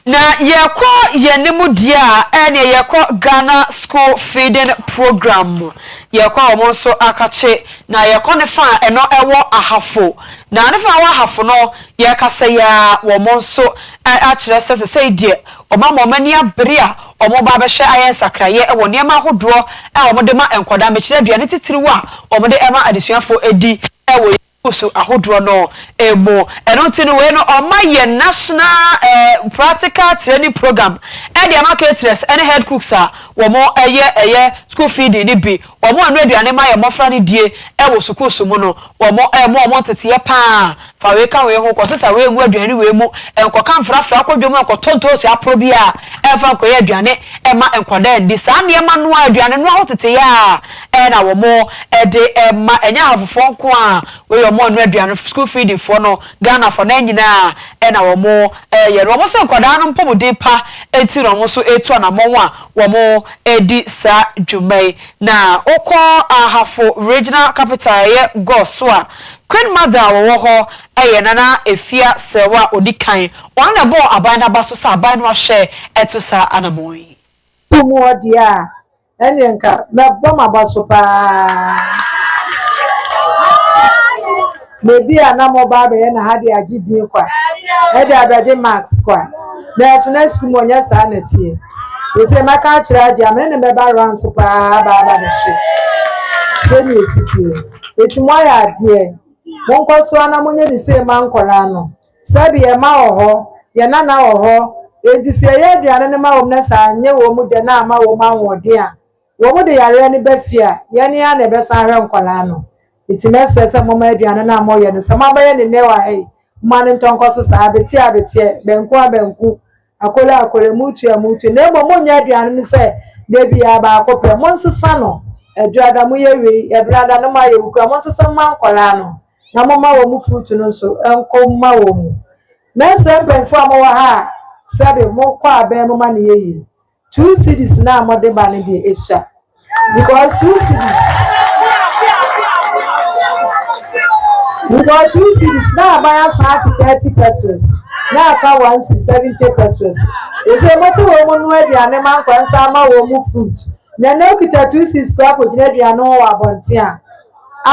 Na yɛkɔ yɛnim deɛ a ɛneɛ yɛkɔ Ghana School Feeding Program yɛkɔ wɔn nso akakye na yɛkɔ ne fa a ɛno ɛwɔ Ahafo na ne fa a ɛwɔ Ahafo no Yɛkasa yi ara wɔn nso akyerɛ sɛ sesei deɛ wɔama wɔn ani abere a wɔreba abɛhwɛ ayɛ nsakraeɛ wɔ nneɛma ahodoɔ a wɔde ma nkwadaa, mekyerɛ aduane titiriw a wɔde ma adesuafoɔ di wɔ yɛn sukuus ahodoɔ no mu. Ɛno nti no wei no wɔma yɛn National Practical Training Program de ama caterers ne head cooks a wɔyɛ ɛyɛ school feeding no bi. Wɔnoa aduane ma yɛn mmɔfra no die wɔ sukuu som mu no, wɔma wɔn nteteeɛ pa ara, fa wei ka wei ho, kɔsesa wei ngu aduane wei mu, nkɔka mfrafra akɔ dwam nkɔtɔ ntoosi aporɔ biara mfa nkɔyɛ aduane mma nkwadaa nni. Saa nneɛma noa, aduane noa ho teteeɛ ara na wɔde ma, ɛnyɛ Ahafofoɔ nko ara, wei yɛ wɔn noa aduane, school feeding foɔ no, Ghanafoɔ no, nyinaa na wɔyɛ no. Wɔse nkwadaa no mpɔmuden pa nti na wɔn nso retu anammɔn a Wɔredi saa dwuma yi, na wokɔ Ahafo Regional Capital a ɛyɛ Gor so a, Queen Mother a wɔwɔ hɔ yɛ Nana Afia Serwaa a ɔdi kan. Ɔno na ɛbɔɔ aban no aba so sɛ aban no ahyɛ to saa anammɔn yi. Wo mu wɔ deɛ a, ɛnneɛ nka mɛbɔ m'aba so paa. Na ebia na mobɔ abɛyɛ na ha de agye din kwa, ɛde abɛgye marks kwa. Nanso na sukuu mu ɔnyɛ saa na ɛteɛ. Seesei mɛka akyerɛ agye a, me ne no bɛba rounds pa ara aba aba bɛhwɛ sɛnea ɛsi teɛ. Enti moayɛ adeɛ. Monkɔ so ara na monyɛ ne sei mma nkwadaa no. Sɛbe yɛn mma wɔ hɔ, yɛn nana wɔ hɔ, enti sɛ yɛyɛ aduane no ma wɔn na sɛ anyɛ wɔn dɛ na amma wɔn ahoɔden a, Wɔn de yareɛ no ba fie a, yɛn ara na yɛbɛsan ahwɛ nkwadaa no. Enti mɛsrɛ sɛ momma aduane no a moyɛ no, sɛ moabɛyɛ no nnɛ a ei, momma no ntɔnkɔ so saa, abeteɛ a abeteɛ, banku a banku, akolo a akolo, amuutu a amuutu, na mmom monnyɛ aduane no sɛ da biara baako pɛ. Monsesa no Aduada moyɛ wei, Aduada no moayɛ wei koraa, monsesa mu mma nkwadaa no, na momma wɔn fruit no nso nkɔ mu mma wɔn. Mɛsrɛ mpanyinfoɔ a mowɔ ha a, sɛbe mokɔ abɛn momma no yɛ yie. Two cedis no a mode ba no deɛ ɛsua because two cedis because two cedis na aban asan ate thirty pesos na aka one cedi seventy pesos ɛsɛ mo sɛ wɔn mu no aduane ma nkwa nsa ama wɔn mu fruit na na okita two cedis kora akɔgyina aduane ho wɔ abɔnten a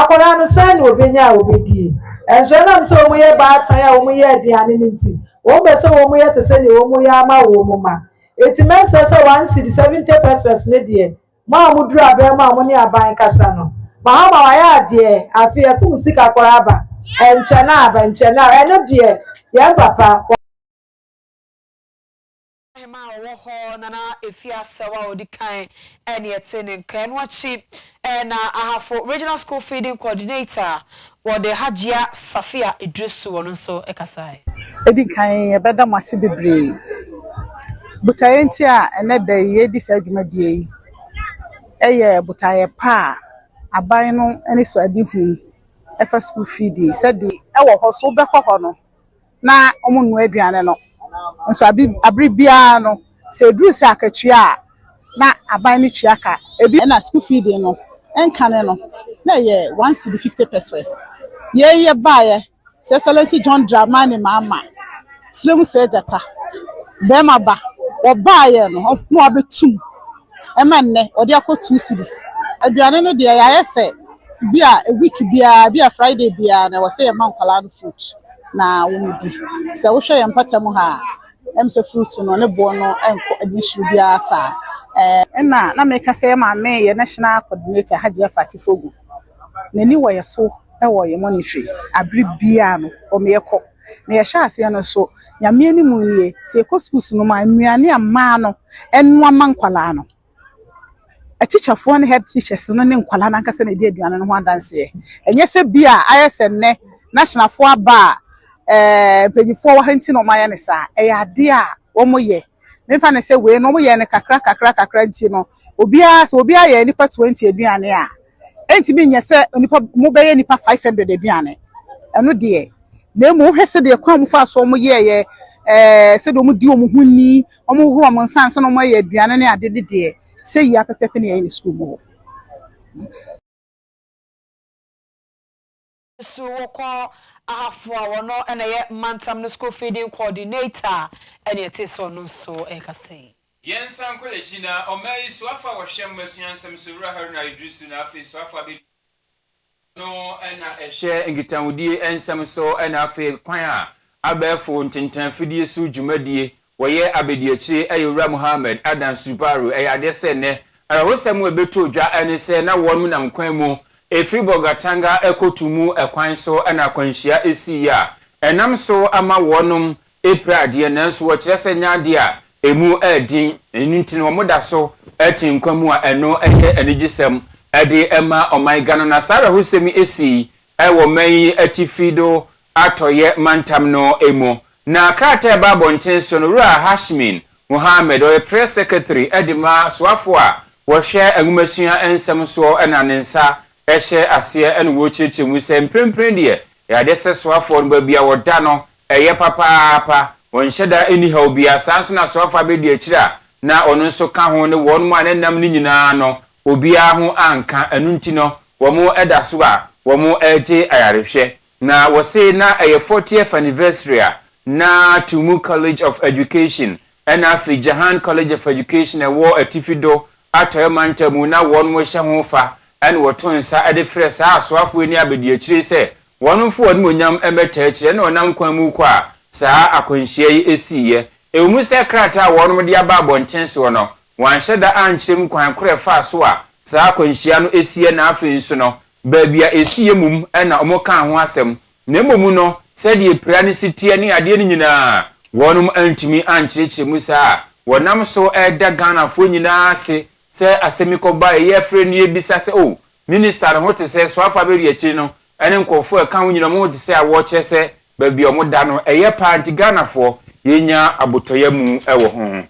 akwadaa no sɛn na obɛnya a obɛdie ɛnso ɛnam sɛ wɔn yɛ baatan a wɔn yɛ aduane no nti wɔn bɛ sɛ wɔn yɛ te sɛ deɛ wɔn yɛ ama wɔn ma. Enti mɛsrɛ sɛ one cedi, seventy pesewas ne deɛ, mo a moduru abɛn mu a mo ne aban kasa no, Mahama wayɛ adeɛ, afei yɛse mo sika kɔrɔ aba, ɛnkyɛne aba, ɛnkyɛne aba, ɛno deɛ yɛn papa, wɔ. Ahemaa a ɔwɔ hɔ na na ɛfie asɛw a ɔdi kan ne ɛtee ne nka, ɛno akyi Ɛna Ahafo Regional School Feeding Coordinator wɔ de Hajia Safia Idrisu ɔno nso kasae. Edi kan yɛbɛda mo ase bebree botaeɛ nti a ɛnɛ da yi yɛredi saa dwumadie yi. Ɛyɛ botaeɛ pa a aban no anisoadehu fa school feeding sɛdeɛ ɛwɔ hɔ so wobɛkɔ hɔ no. na wɔnoa aduane no nso bere biara no sɛ ɛduru sɛ akatua a na aban no tua ka. Ebi na school fee de no nkane no na ɛyɛ one cedi fifty pesoes. Yei yɛ baeɛ His Excellency John Dramani Mahama serɛ mu sɛ gyata barima ba wɔbaeɛ no na wɔabɛtum. ɛma nnɛ wɔde akɔ two cedis. Aduane no deɛ yɛayɛ sɛ bi a week biara bi a Friday biara na ɛwɔ sɛ yɛma nkwadaa no fruit na wɔdi. Sɛ wohwɛ yɛn mpata mu ha a, ɛm sɛ fruit no ne boɔ no nkɔ ani soro biara saa. Ɛna na meka sɛ yɛ maame yɛ national coordinator Hajiya Fati Fogu. N'ani wɔ yɛ so wɔ yɛ monitoring. Abere biara no wɔyɛ kɔ. na yɛhyɛ aseɛ no so nyame anim nie sɛ yɛkɔ schools no mu a nnuane a mmaa no ɛnoa ma nkwadaa no atikyafoɔ ne head teachers no ne nkwadaa no ankasa na ɛdi aduane no ho adanseɛ ɛnyɛ sɛ bi a ayɛ sɛ nnɛ nationalfoɔ aba a eh, mpanyifoɔ wɔ ha nti na wɔayɛ ne saa ɛyɛ adeɛ a wɔyɛ mefa no sɛ wei no wɔyɛ no kakra kakra kakra nti no obiara sɛ obiara yɛ nipa twenty aduane a ɛntumi nyɛ sɛ nipa mo bɛyɛ nipa five hundred aduane ɛno deɛ na emu wohwɛ sɛ deɛ kwan mu fa so wɔn yɛ yɛ ɛɛ sɛ deɛ wɔn di wɔn ho ni wɔn hohoro wɔn nsa nsa na wɔn ayɛ aduane ne ade ne deɛ sɛ yie apɛpɛpɛ ne yɛn ne sukuu mu hɔ. So wɔkɔɔ Ahafo a wɔno na ɛyɛ mantam no school feeding coordinator a ɛne ɛte sɛ ɔno nso ɛka sei. Yɛnsan nkɔ yɛn akyi na ɔman yi soafo a wɔhwɛ mmasua nsɛm so Wura Haruna Iddrisu na afei soafo abedi ɔno na ɛhwɛ nkitahodie nsɛm so ɛna afei kwan a abɛɛfo ntentan afidie so dwumadie Wɔyɛ abadiakyire yɛ Owura Mohammed Adan Subaru. Ɛyɛ adeɛ sɛ nnɛ, awerɛhosɛm a ɛbɛtoo dwa ne sɛ na wɔnom nam kwan mu ɛfiri Bolgatanga kɔ Tumu kwan so na akwanhyia siiɛ a ɛnam so ama wɔnom apira adeɛ nanso wɔkyerɛ sɛ nyɛ adeɛ a ɛmu yɛ den, ɛno nti no wɔda so te nkwa mu a ɛno yɛ anigyesɛm de ma ɔman Ghana. Na saa awerɛhosɛm yi sii wɔ man yi atifi do atɔeɛ mantam no mu. Na krataa a ɛbaa abɔnten so no, Wura Hashmin Mohammed, ɔyɛ Press Secretary de ma soafoɔ a wɔhwɛ nwomasua nsɛm soɔ na ne nsa hyɛ aseɛ na wɔrekyerɛkyerɛ mu sɛ mprempren deɛ ɛyɛ adeɛ sɛ soafoɔ no baabi a wɔda no yɛ papaapa, wɔnhyɛ da nni haw biara. Saa ara nso na soafoɔ abɛdi akyire a na ɔno nso ka ho ne wɔnom a na ɛnam no nyinaa no obiara ho anka, ɛno nti no wɔn da so a wɔn regye ayarehwɛ. Na wɔse na ɛyɛ fortieth anniversary a na Tumu College of Education ɛna afei Jahan College of Education a ɛwɔ Atifi do Atɔeɛ Mantam mu na wɔn rehyɛ ho fa ɛna wɔto nsa de frɛ saa asoafoɔ yi ne abadiakyire yi sɛ wɔn mfa wɔn animuonyam mmɛtaa akyire ɛna wɔnam kwan mu rekɔ a saa akwanhyia yi siiɛ. Ɛwɔ mu sɛ krataa a wɔn de aba abɔnten soɔ no Wɔanhyɛ da ankyerɛ mu kwan koro a ɛfaa so a saa akwanhyia no siiɛ na afei nso no, baabi a ɛsiiɛ mmom na wɔkaa ho asɛm, na mmom no, sɛdeɛ pira no si teɛ ne adeɛ no nyina ara, wɔnom antumi ankyerɛkyerɛ mu saa a wɔnam so da Ghanafoɔ nyina ara ase sɛ asɛm yi kɔbaa yei a afei no yɛbisa sɛ oh, Minister no ho te sɛ Soafa Abedi Akyire no ne nkorɔfoɔ a ɛka ho nyina wɔn ho te sɛ a wɔkyerɛ sɛ baabi a wɔda no ɛyɛ paa nti Ghanafoɔ yɛnya abotɔyamu wɔ ho.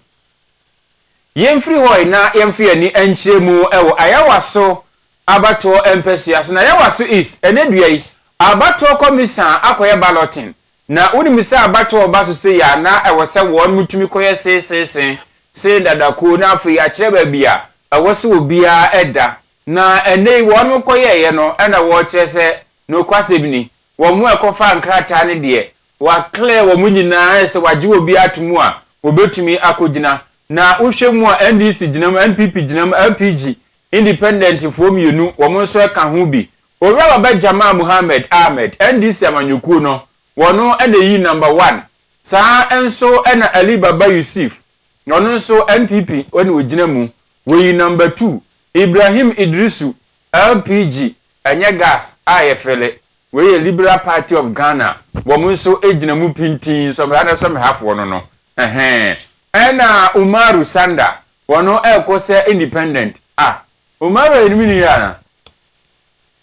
Yɛmfiri hɔ na yɛmfa yɛn ani nkyerɛ mu wɔ Ayawaso abatoɔ mpasua so. Na Ayawaso East, ɛnnɛ dua yi, abatoɔ kɔ misa a, akɔyɛ balloting. Na wonim sɛ abatoɔ ɔba so sei a, na ɛwɔ sɛ wɔn tumi kɔyɛ seeseese, see dadakuo, na afei akyerɛ baabi a ɛwɔ sɛ obiara da. Na ɛnnɛ yi, wɔn kɔyɛeɛ no na wɔrekyerɛ sɛ, nokwasɛm ni, wɔn a ɛkɔfaa nkrataa no deɛ, Wɔaklɛ wɔn nyinaa ayɛ sɛ wɔagye obiara ato mu a wɔbɛtumi akɔgyina. Na wohwɛ mu a NDC gyina mu, NPP gyina mu, LPG, Independentfoɔ mmienu, wɔn nso ka ho bi. Owura Baba Jamal Mohammed Ahmed, NDC amanyɔkuo no, wɔn na ɛyii Number One. Saa ara nso na Ali Baba Yusuf, ɔno nso NPP na ɔgyina mu, wɔyii Number Two. Ibrahim Idrisu, LPG, ɛnyɛ gas a yɛfele, Wei yɛ liberal party of Ghana wɔn nso gyina mu pintinn some rather some hafoɔ no no ɛhɛn ɛna Umaru Sanda wɔn ɛrekɔ sɛ independent ah Umaru ɛyɛ ne mini yɛ ana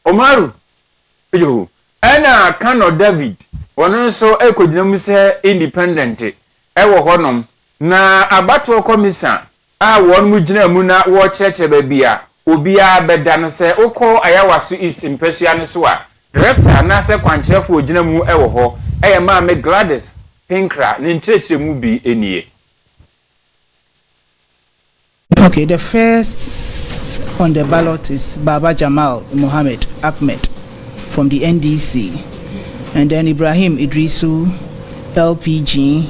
Umaru yoo ɛna Kano David wɔn nso ɛrekɔgyina mu sɛ independent ɛwɔ hɔ nom na abatoɔ kɔmisa a wɔnom gyina mu na wɔrekyerɛkyerɛ baabi a obiara bɛda no sɛ wokɔ Ayawaso East mpasua no so a, Director anaasɛ kwankyerɛfo a ogyina mu wɔ hɔ, ɛyɛ Maame Gladys Pinkra, ne nkyerɛkyerɛmu bi nie. Okay, the first on the ballot is Baba Jamal Mohammed Ahmed from the NDC and then Ibrahim Iddrisu, LP, Jing.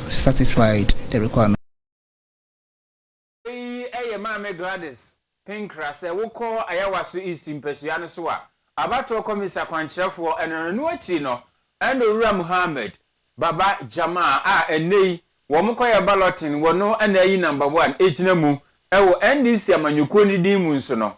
satisfied the requirement. Eyi yɛ Maame Gladys Pinkra sɛ wokɔ Ayawaso East mpasua no so a, abatoɔ kɔmisa kwankyerɛfoɔ no, ɛno akyiri no ɛna Owura Muhammad Baba Jamaa a ɛnnɛ yi wɔn kɔyɛ balloting wɔ no na ayi number one gyina mu wɔ NDC amanyɔkuo no din mu nso no,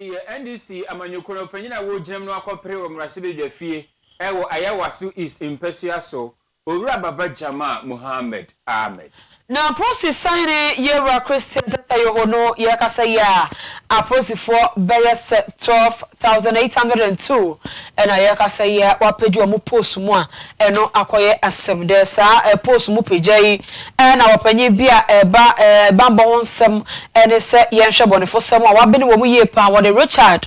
Yɛ NDC amanyɔkuo no panyin a wɔgyinam no akɔpere wɔ mmarahyɛbadwa fie wɔ Ayawaso East mpasua so, Owura Baba Jamal Mohammed Ahmed. Na apolisi sahene Yewura Christian Tetteh-Yoho no yɛ kasa yi a, apolisifoɔ bɛyɛ sɛ twelve thousand eight hundred and two na yɛ kasa yi a wɔapagye wɔn post mu a Ɛno akɔyɛ asɛm dɛ saa post mu pagya yi na ɔpanyin bi a ɛreba bammɔ ho nsɛm ne sɛ yɛnhwɛ bɔnefosɛm a wɔabene wɔ mu yie paa, wɔde Richard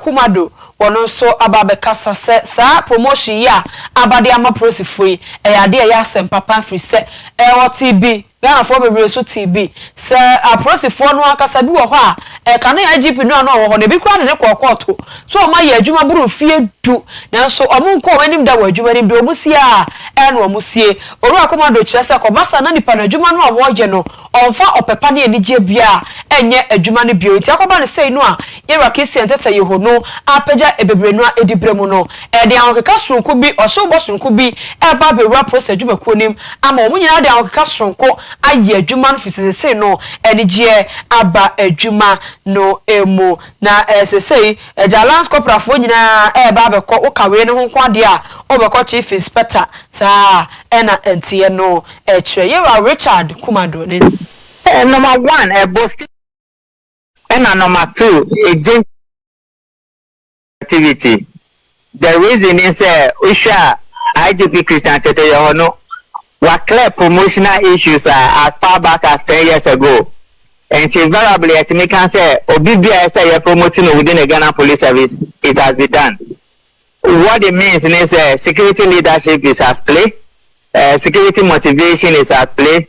Kumado ɔno nso aba abɛkasa sɛ saa promotion yi a aba de ama polisifoɔ yi ɛyɛ adeɛ a ɛyɛ asɛm papa ɛfiri sɛ ɔtee bi Ghanafoɔ bebree nso tee bi sɛ apolisifoɔ no ankasa bi wɔ hɔ a, ɛkane IGP no a na ɔwɔ hɔ no, ebi koraa de no kɔɔ kɔɔto sɛ wɔn ayɛ adwuma boro mfeɛ du, nanso wɔn nkɔɔ wɔn anim da wɔ adwuma no mu, deɛ wɔn sie ara na wɔn sie. Owura Komando kyerɛ sɛ kɔba saa na nnipa no adwuma no a wɔyɛ no, wɔmfa ɔpɛ pa ne anigyeɛ biara nyɛ adwuma no bio, enti akɔba no sei no a, Ira kɛseɛ nte sɛ Yeho no apagya bebree no ara diberɛ mu no, ɛde ahokeka sononko bi, ɔhyewbɔ sononko bi, reba abɛwura Prosa adwumakuo no mu ama wɔn nyinaa de ahokeka sononko ayɛ adwuma no firi sesesei no anigyeɛ aba adwuma no mu. Na sesei Agya Lance Corporal foɔ nyinaa reba abɛkɔ, wo ka wei no ho nko adeɛ a, wobɛkɔ Chief Inspector, saa ara na ɛteɛ no, ɛkyerɛ Yeraw Richard Kumado ne. Number one, ɛbɔ Stephen. Ɛna nɔma two, Agent Activity, the reason ne sɛ wohwɛ a IGP Christian Tetteh yɛ hɔ no, wa clear promotional issues a as far back as ten years ago. Nti verably yɛtumi ka sɛ obi biaa ɛsɛ sɛ yɛ promote no within the Ghana Police Service, it has be done. What it means ne sɛ security leadership is at play, eh, security motivation is at play,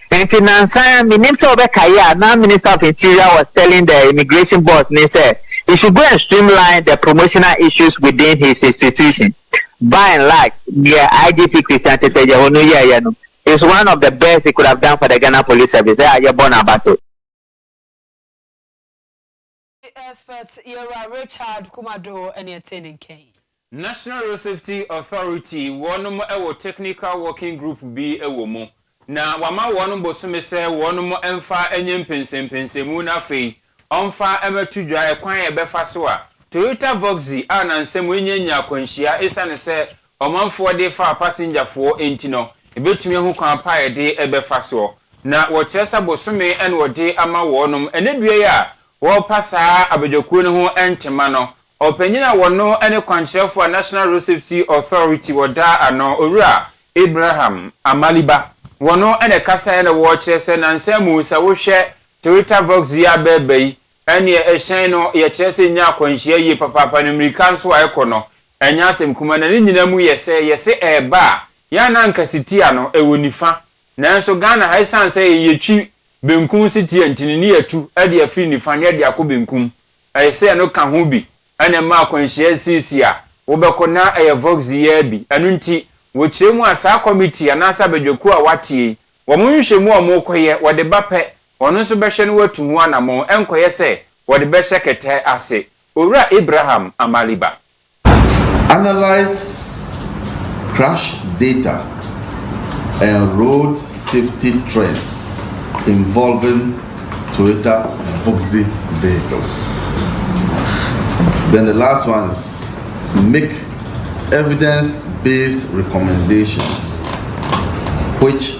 Enti nnansa yi, mennim sɛ wobɛkae a, na Minister of Interior was telling the immigration boss no sɛ he should go and streamline the promotional issues within his institution. By and large, deɛ IGP Christian Tetteh Djehonu yɛeɛ no is one of the best he could have done for the Ghana Police Service a yɛbɔ no abase. The expert Yɛwura Richard Kumado ne ɛtee ne nka yi. National Road Safety Authority wɔnom wɔ technical working group bi wɔ mu na wama wɔnom bosome sɛ wɔnom mfa nyɛ mpɛnsɛmpɛnsɛmu na afei ɔmfa mmɛto dwa kwan a ɛbɛfa so a Toyota Voxy a nansa mu nya nya akwanhyia esiane sɛ Ɔmanfoɔ de fa apasenjafoɔ nti no, yɛbɛtumi ahu kwan pa a yɛde bɛfa soɔ. Na wɔkyerɛ sɛ bosome na wɔde ama wɔnom. Ɛnnɛ dua yi a wɔrepa saa abadwakuo no ho ntema no, ɔpanyin a ɔno ne kwankyerɛfoɔ a National Road Safety Authority wɔda ano, Owura Abraham Amaliba, wɔno na ɛkasaeɛ na wɔkyerɛ sɛ nansa mu sɛ wohwɛ Toyota Vox yi abɛɛba yi, Ɛnneɛ ɛhyɛn no, yɛkyerɛ sɛ ɛnya akwanhyia yie papaapa, na mmirika nso a ɛkɔ no, ɛnyɛ asɛm kumaa, na ne nyinaa mu yɛ sɛ, yɛse ɛreba a, yɛn a na anka sitia no, ɛwɔ nifa. Nanso Ghana ha, ɛsiane sɛ yɛtwi benkum sitia nti no, ne yɛatu de afiri nifa na yɛde akɔ benkum. Ɛyɛ sɛ ɛno ka ho bi na ɛma akwanhyia sisi a wobɛkɔ na ɛyɛ vox yaa bi. Ɛno nti, wɔkyerɛ mu a, saa kɔmitii anaasɛ abadwakuo a wɔateɛ yi, wɔn nhwehwɛmu a wɔkɔyɛ, wɔde ba pɛ Ɔno nso bɛhwɛ na watu ho anammɔn, ɛnkɔyɛ sɛ wɔde bɛhyɛ kɛtɛ ase. Owura Abraham Amaliba. Analyse crash data and road safety trends involving Toyota Boxy vehicles. Then the last one is make evidence based recommendations which.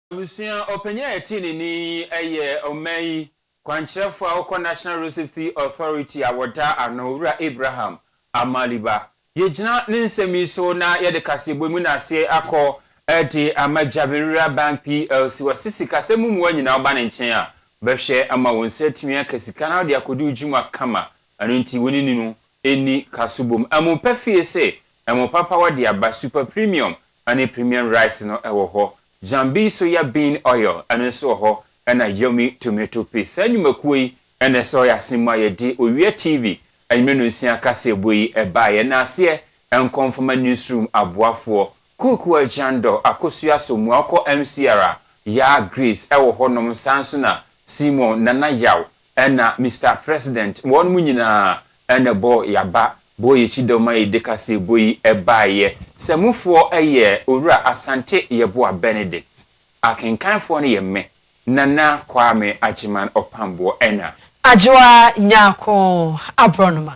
Abusua ɔpanyin a ɛte ne nne yi yɛ ɔman yi kwankyerɛfo a ɔkɔ National Road Safety Authority a wɔda ano, Owura Abraham Amaliba. Yɛgyina ne nsɛm yi so na yɛde kaseɛbɔ mu naseɛ akɔ de ama Dwaberewa Bank plc. Wɔse sikasɛm mu mmoa nyinaa woba ne nkyɛn a, ɔbɛhwɛ ama wo nsa atumi aka sika na wode akɔdi wo dwuma kama. Ɛno nti wo ne no nni kaso bom. Ɛmo pɛ fie se, ɛmo papa wɔde aba, Super Premium Ɛne premium rice no wɔ hɔ. Jambi soya bean oil ɛno nso wɔ hɔ ɛna yummy tomato paste. Saa nnwumakuo yi na ɛsɔ yɛ asene mu a yɛde Owia TV anwummerɛ nonsia kaseɛbɔ yi ɛbaa yɛ. Yɛnaa aseɛ nkɔ mfama newsroom aboafoɔ, Kuku Agyandɔ, Akosua Asomuah, wokɔ MCR a, Yaa Grace ɛwɔ hɔ nom, saa nso na Simon, Nana Yaw, Ɛna Mister President, wɔnom nyinaa ɛna ɛbɔɔ yaba, bɔɔ yɛkyidɔm ma yɛde kaseɛbɔ yi baeɛ. Sɛ mofoɔ yɛ Owura Asante Yeboah Benedict. Akenkanfoɔ no yɛ me, Nana Kwame Agyeman Ɔpamboɔ ɛna. Adwoa Nyarko Aborɔnoma.